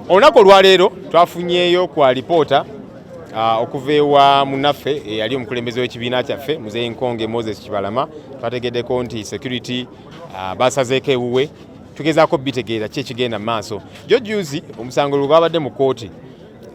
olunaku olwaleero twafunyeeyo ku alipoota ah, okuva ewa munaffe eyali eh, omukulembeze w'ekibiina kyaffe muzeeyi nkonge moses kibalama twategeddeko nti security ah, basazeeko ewuwe tugezaako bitegeera ki ekigenda mu maaso jjo juzi omusango lwe gwabadde mu kkooti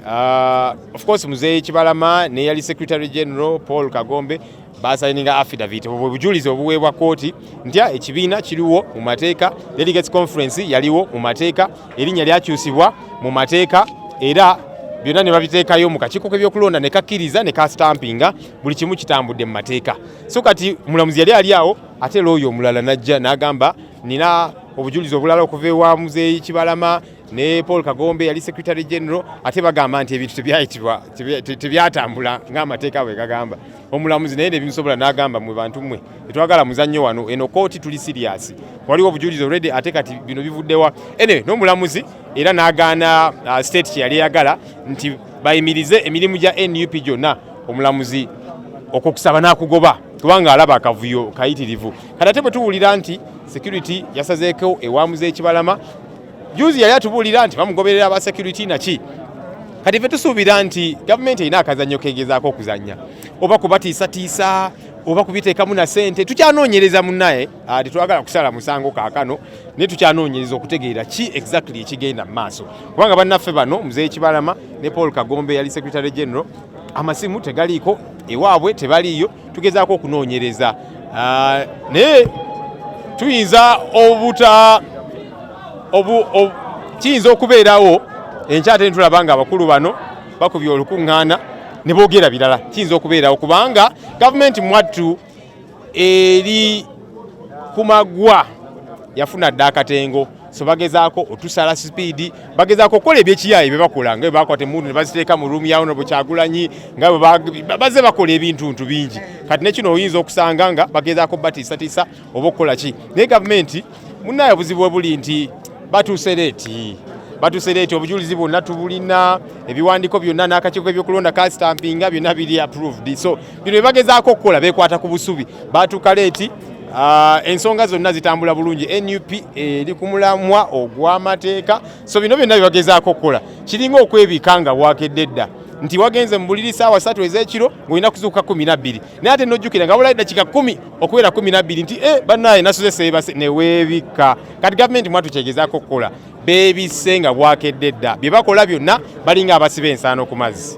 Uh, of course muzeeyi Kibalama ne yali Secretary General Paul Kagombe basayininga affidavit obwo bujulizi obuweebwa kooti nti ekibiina kiriwo mu mateeka, delegates conference yaliwo mu mateeka, erinnya lyakyusibwa mu mateeka era byonna ne babiteekayo mu kakiiko k'ebyokulonda ne kakkiriza ne kasitampinga buli kimu kitambudde mu mateeka. So kati mulamuzi yali ali awo ate looyo omulala n'ajja n'agamba nina obujulizi obulala okuva ewa muzeeyi Kibalama ne Paul Kagombe yali secretary general ate bagamba nti ebintu tebyayitibwa tebyatambula ng'amateeka bwe gagamba omulamuzi naye nebimusobola n'agamba mwe bantu mmwe tetwagala muzannyo wano eno kooti tuli siriyasi waliwo obujulizi olredi ate kati bino bivuddewa anyway n'omulamuzi era n'agaana uh, state kye yali eyagala nti bayimirize emirimu gya nup gyonna omulamuzi okwokusaba n'akugoba kubanga alaba akavuyo kayitirivu kati ate bwe tuwulira nti security yasazeeko ewamuza ekibalama juzi yali atubuulira nti bamugoberera aba security naki kati fe tusuubira nti gavumenti erina akazannyo kegezaako okuzannya oba kubatiisatiisa oba kubiteekamu na sente tukyanoonyereza munnaye ah, tetwagala kusala musango kaakano naye tukyanoonyereza okutegeera ki exactly ekigenda mu maaso kubanga bannaffe bano muzeeyi kibalama ne paul kagombe yali secretary general amasimu tegaliiko ewaabwe tebaliiyo tugezaako okunoonyereza ah, naye tuyinza obuta kiyinza okubeerawo enkya ate nitulaba nga abakulu bano bakubye olukuŋŋaana ne boogera birala kiyinza okubeerawo kubanga gavumenti mwattu eri ku magwa yafuna dda akatengo so bagezaako otusala sipiidi bagezaako okukola ebyekiyaaye bye bakola nga bwe bakwata emundu ne baziteeka mu ruumu ya honorable kyagulanyi nga baze bakola ebintuntu bingi kati nekino oyinza okusanga nga bagezaako batiisatiisa oba okukola ki naye gavumenti munaye obuzibu we buli nti batuuse leeti batuuse leeti obujulizi bwonna tubulina ebiwandiiko byonna n'akakiiko k'ebyokulonda kasitampinga byonna biri approved so bino bebagezaako okukola bekwata ku busubi baatuuka leeti Uh, ensonga zonna zitambula bulungi nup eri eh, ku mulamwa ogw'amateeka so bino byonna byebagezaako okukola kiringa okwebika nga bwakedde dda nti wagenze mu buliri saawa satu ez'ekiro ng'olina kuzuuka kumi nabbiri naye ate nojjukira nga bulayi dakika kumi okubeera kumi nabbiri nti e eh, banaye nasuze seebase neweebikka kati gavumenti mwatu kyegezaako okukola beebisse nga bwakedde dda bye bakola byonna balinga abasiba ensaano ku mazzi